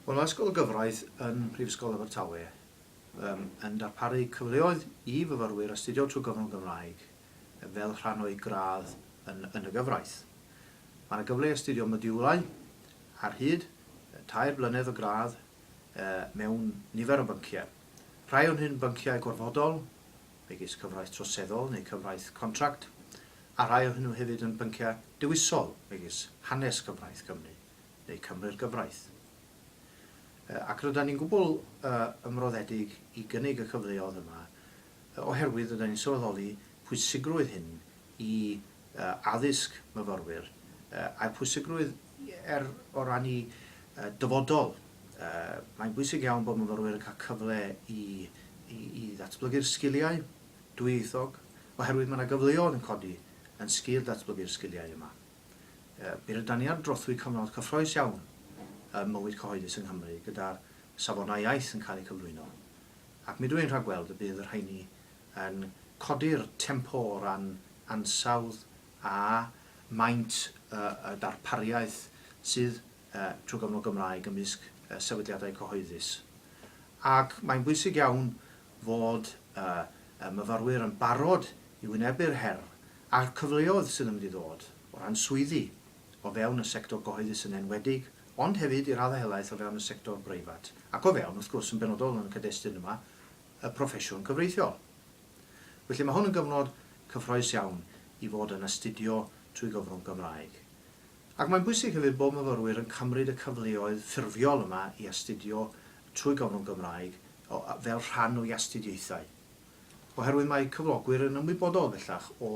Wel, mae Ysgol y Gyfraith yn Mhrifysgol Abertawe yn darparu cyfleoedd i fyfyrwyr astudio trwy gyfrwng y Gymraeg fel rhan o'u gradd yn yn y gyfraith. Mae yna gyfle i astudio modiwlau ar hyd tair blynedd o gradd mewn nifer o bynciau. Rhai o'n hyn bynciau gorfodol, megis cyfraith troseddol neu cyfraith contract, a rhai o hynw hefyd yn bynciau dewisol megis hanes cyfraith Cymru neu Cymru'r gyfraith. Yy, ac rydan ni'n gwbl yy ymroddedig i gynnig y cyfleodd yma yy oherwydd rydan ni'n sylweddoli pwysigrwydd hyn i addysg myfyrwyr a'r pwysigrwydd er o ran y dyfodol. Mae'n bwysig iawn bod myfyrwyr yn cael cyfle i i ddatblygu'r sgiliau dwyieithog oherwydd mae yna gyfleodd yn codi yn sgil datblygu'r sgiliau yma. Mi rydan ni ar drothwy cyfnod cyffroes iawn ym mywyd cyhoeddus yng Nghymru gyda'r safonau iaith yn cael eu cyflwyno ac mi dw i'n rhagweld y bydd y rheini yn codi'r tempo o ran ansawdd a maint y darpariaeth sydd trwy gyfrwng y Gymraeg ymysg sefydliadau cyhoeddus. Ac mae'n bwysig iawn fod y myfyrwyr yn barod i wynebu'r her a'r cyfleoedd sydd yn mynd i ddod o ran swyddi o fewn y sector gyhoeddus yn enwedig, ond hefyd i raddau helaeth o fewn y sector breifat ac o fewn, wrth gwrs, yn benodol yn y cyd-destun yma, y proffesiwn cyfreithiol. Felly mae hwn yn gyfnod cyffroes iawn i fod yn astudio trwy gyfrwng Gymraeg. Ac mae'n bwysig hefyd bod myfyrwyr yn cymryd y cyfleoedd ffurfiol yma i astudio trwy gyfrwng Gymraeg fel rhan o'u astudiaethau. Oherwydd mae cyflogwyr yn ymwybodol bellach o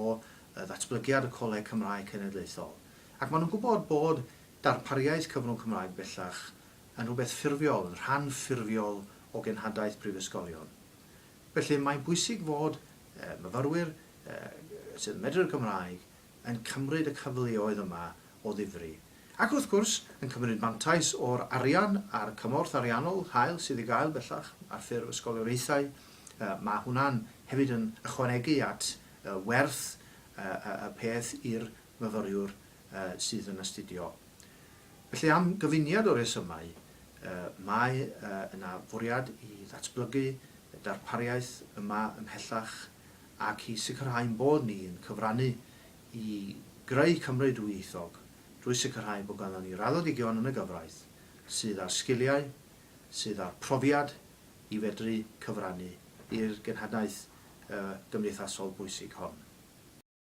ddatblygiad y Coleg Cymraeg Cenedlaethol ac maen nhw'n gwybod bod darpariaeth cyfrwng Cymraeg bellach yn rhywbeth ffurfiol, yn rhan ffurfiol o genhadaeth brifysgolion. Felly mae'n bwysig fod myfyrwyr sydd yn medru'r Gymraeg yn cymryd y cyfleoedd yma o ddifri. Ac wrth gwrs, yn cymryd mantais o'r arian a'r cymorth ariannol hael sydd i gael bellach ar ffurf ysgolioriaethau, mae hwnna'n hefyd yn ychwanegu at werth y peth i'r myfyriwr sydd yn astudio. Felly, am gyfuniad o resymau, mae yna fwriad i ddatblygu y darpariaeth yma ymhellach ac i sicrhau ein bod ni yn cyfrannu i greu Cymru dwyieithog drwy sicrhau bod ganddon ni raddedigion yn y gyfraith sydd â'r sgiliau, sydd â'r profiad i fedru cyfrannu i'r genhadaeth gymdeithasol bwysig hon.